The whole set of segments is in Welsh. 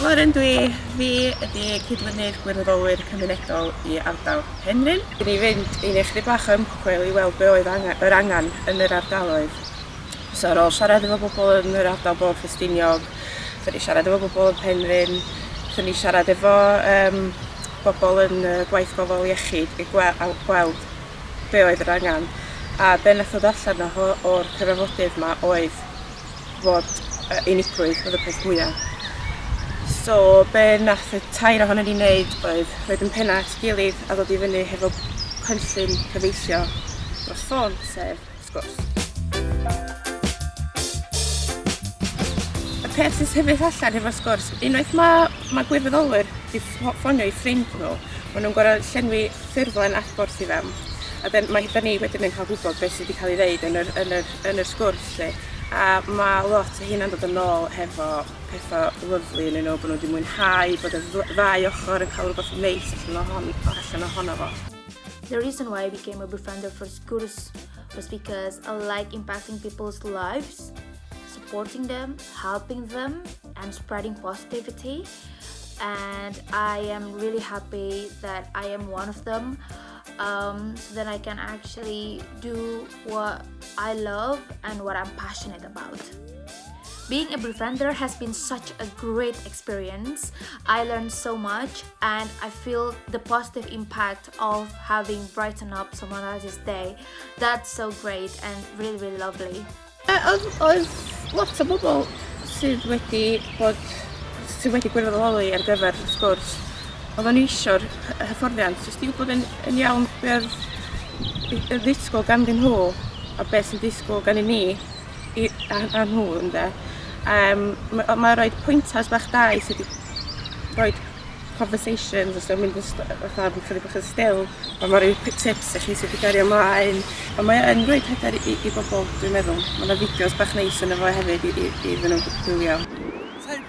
Lauren dwi. Fi ydi cydlynydd gwirfoddolwyr cymunedol i ardal Penrhyn, i ni fynd i ni ychydig bach o ymchwil i weld be oedd angen, yr angen yn yr ardaloedd. So ar ôl siarad efo bobl yn yr ardal Bôn Ffestiniog, so ni siarad efo bobl yn Penrhyn, so ni siarad efo um, bobl yn uh, gwaith gofal iechyd i gweld, gweld be oedd yr angen. A be nath ddod allan o'r cyfarfodydd yma oedd fod yy unigrwydd oedd y peth mwya. So be nath y tair ohonon ni wneud oedd rhoid yn penna at gilydd a ddod i fyny hefo cynllun cyfeillio dros ffôn, sef sgwrs. Y peth sy'n sefyll allan hefo sgwrs, unwaith mae ma gwirfoddolwyr wedi ffonio i ffrind nhw, maen nhw'n gorau llenwi ffurflen adborth i fewn. A dyn, mae, da ni wedyn yn cael gwybod beth sydd wedi cael ei ddeud yn yr, yn yr yn yr sgwrs 'lly a ma' lot o heina'n dod yn ôl hefo petha lyfli ynnyn nhw bo' nhw 'di mwynhau bod y dd- ddau ochor yn ca'l rwbath neis allan o hon o allan ohono fo. The reason why I became a befriender for Sgwrs was because I like impacting people's lives, supporting them, helping them and spreading positivity and I am really happy that I am one of them um, so that I can actually do what I love and what I'm passionate about. Being a befriender has been such a great experience. I learned so much and I feel the positive impact of having brightened up someone else's day. That's so great and really, really lovely. Uh, oedd lot o bobl sydd wedi bod sydd wedi gwirfoddoli ar gyfer y sgwrs. Oedden ni eisiau'r hyfforddiant, jyst i wybod yn, yn iawn beth y ddisgwyl ganddyn nhw a beth sy'n disgwyl gennym ni i a a nhw ynde? Yym ma' o ma' roid pointers bach da i ti 'di roid conversations os yw mynd yn st- fatha rw chydig bach yn still a ma' ryw p- tips i chi sut i gario mlaen a mae o yn roid hyder i i bobol dwi'n meddwl. Ma' 'na fideos bach neis yno fo hefyd i i iddyn nhw gwylio.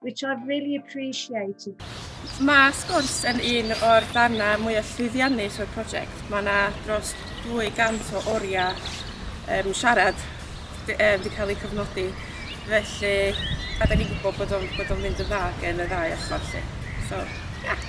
which I've really appreciated. Mae sgwrs yn un o'r darnau mwyaf llwyddiannus o'r prosiect. Mae yna dros 200 o oriau um, siarad wedi um, cael eu cyfnodi. Felly, a da ni'n gwybod bod o'n, bod o'n mynd yn dda gen y ddau ochr. Lle. So, yeah.